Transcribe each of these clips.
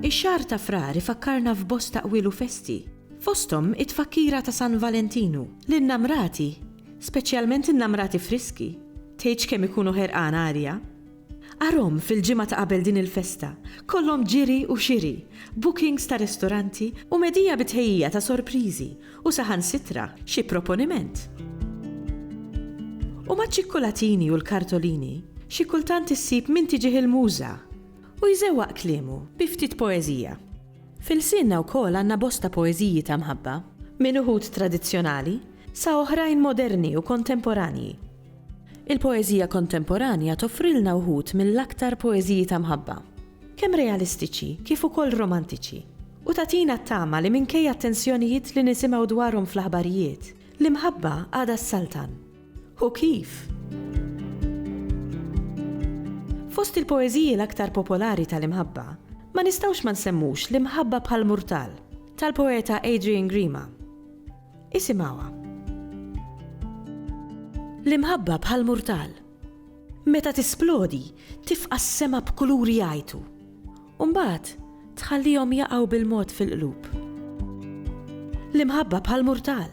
Ix-xahar ta' Frar ifakkarna f'bosta qwiel u festi, fosthom it-tfakkira ta' San Valentinu. L-innamrati, speċjalment innamrati friski, tgħidx kemm ikunu ħerqana arja. Arahom fil-ġimgħa ta' qabel din il-festa, kollhom ġiri u xiri, bookings ta' ristoranti u medhija bi tħejjija ta' sorpriżi u saħansitra xi proponiment. U maċ-ċikkulatini u l-kartolini, xi kultant issib min tiġih il-muża u jżewwaq kliemu bi ftit poeżija. F'ilsienna wkoll għandna bosta poeżiji ta' mħabba, minn uħud tradizzjonali sa oħrajn moderni u kontemporanji. Il-poeżija kontemporanja toffrilna wħud mill-aktar poeżiji ta' mħabba, kemm realistiċi kif ukoll romantiċi, u tagħtina t-tama li minkejja t-tensjonijiet li nisimgħu dwarhom fl-aħbarijiet, l-imħabba għadha ssaltan. Hu kif! Fost il-poeżiji l-aktar popolari tal-imħabba, ma nistgħux ma nsemmux L-Imħabba bħal Murtal, tal-poeta Adrian Grima. Isimgħuha. L-imħabba bħal murtal. Meta tisplodi, tifqa' s-sema b'kuluri jgħajtu. U mbagħad tħallihom jaqgħu bil-mod fil-qlub. L-imħabba bħal murtal.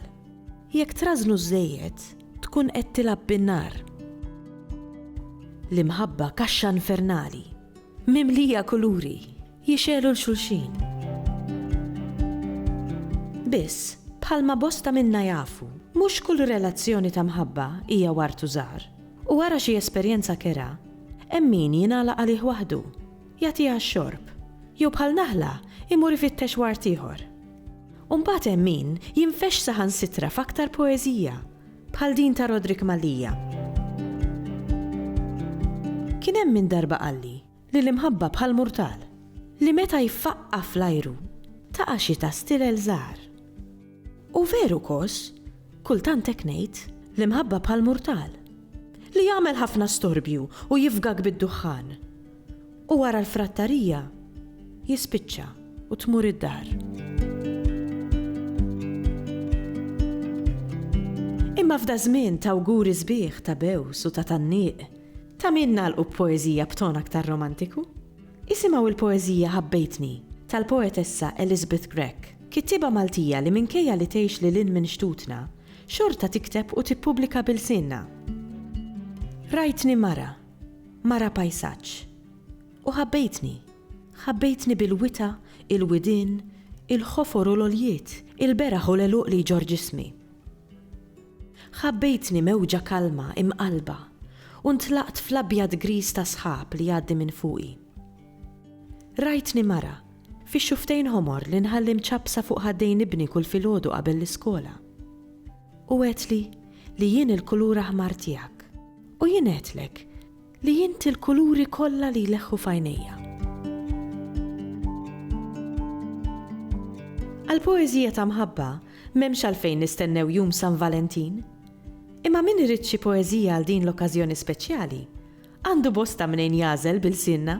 Jekk trażżnu żżejjed, tkun qed tilgħab bin-nar. L-imħabba kaxxa infernali, mimlija kuluri. Jixegħlu 'l xulxin. Biss, bħalma bosta minna jafu, mhux kull relazzjoni ta' mħabba hija ward u żahar. U wara xi esperjenza kerha, hemm min jingħalaq għalih waħdu, jagħtiha x-xorb, jew bħal naħla jmur ifittex ward ieħor. U mbagħad hemm min jinfexx saħansitra f'aktar poeżija, bħal din ta' Roderick Mallia. Kien hemm min darba qalli, li l-imħabba bħal murtal li meta jfaqqa' fl-ajru taqa' xi ta' stilel żgħar. U veru kos, kultant hekk ngħid, l-imħabba bħal murtal li jagħmel ħafna storbju u jifgak bid-duħħan u wara l-frattarija jispiċċa u tmur id-dar. Imma f'daż-żmien t'awguri sbieħ ta' bews u ta' tgħanniq, Ta' min nagħlqu b'poeżija b'ton aktar romantiku? Isimgħu l-poeżija Ħabbejtni tal-poetessa Elizabeth Grech, kittieba Maltija li minkejja li tgħix lil hinn minn xtutna, xorta tikteb u tippubblika bi lsienna. Rajtni mara, mara pajsaġġ, u ħabbejtni, ħabbejtni bil-wita, il-widien, il-ħofor u l-għoljiet, il-beraħ u l-għeluq li jġorr ġismi. Ħabbejtni mewġa kalma, imqallba, u ntlaqt fl-abjad griż tas-sħab li jgħaddi minn fuqi. Rajtni mara, fix-xufftejn ħomor li nħalli mċappsa fuq ħaddejn ibni kull filgħodu qabel l-iskola. U għedtli li jien il-kulur aħmar tiegħek. U jien għedtlek Li inti l-kuluri kollha li jleħħu f'għajnejja. Għall-poeżija ta' mħabba m'hemmx għalfejn nistennew jum San Valentin. Imma min irid xi poeżija għal din l-okkażjoni speċjali, għandu bosta mnejn jagħżel b'ilsienna.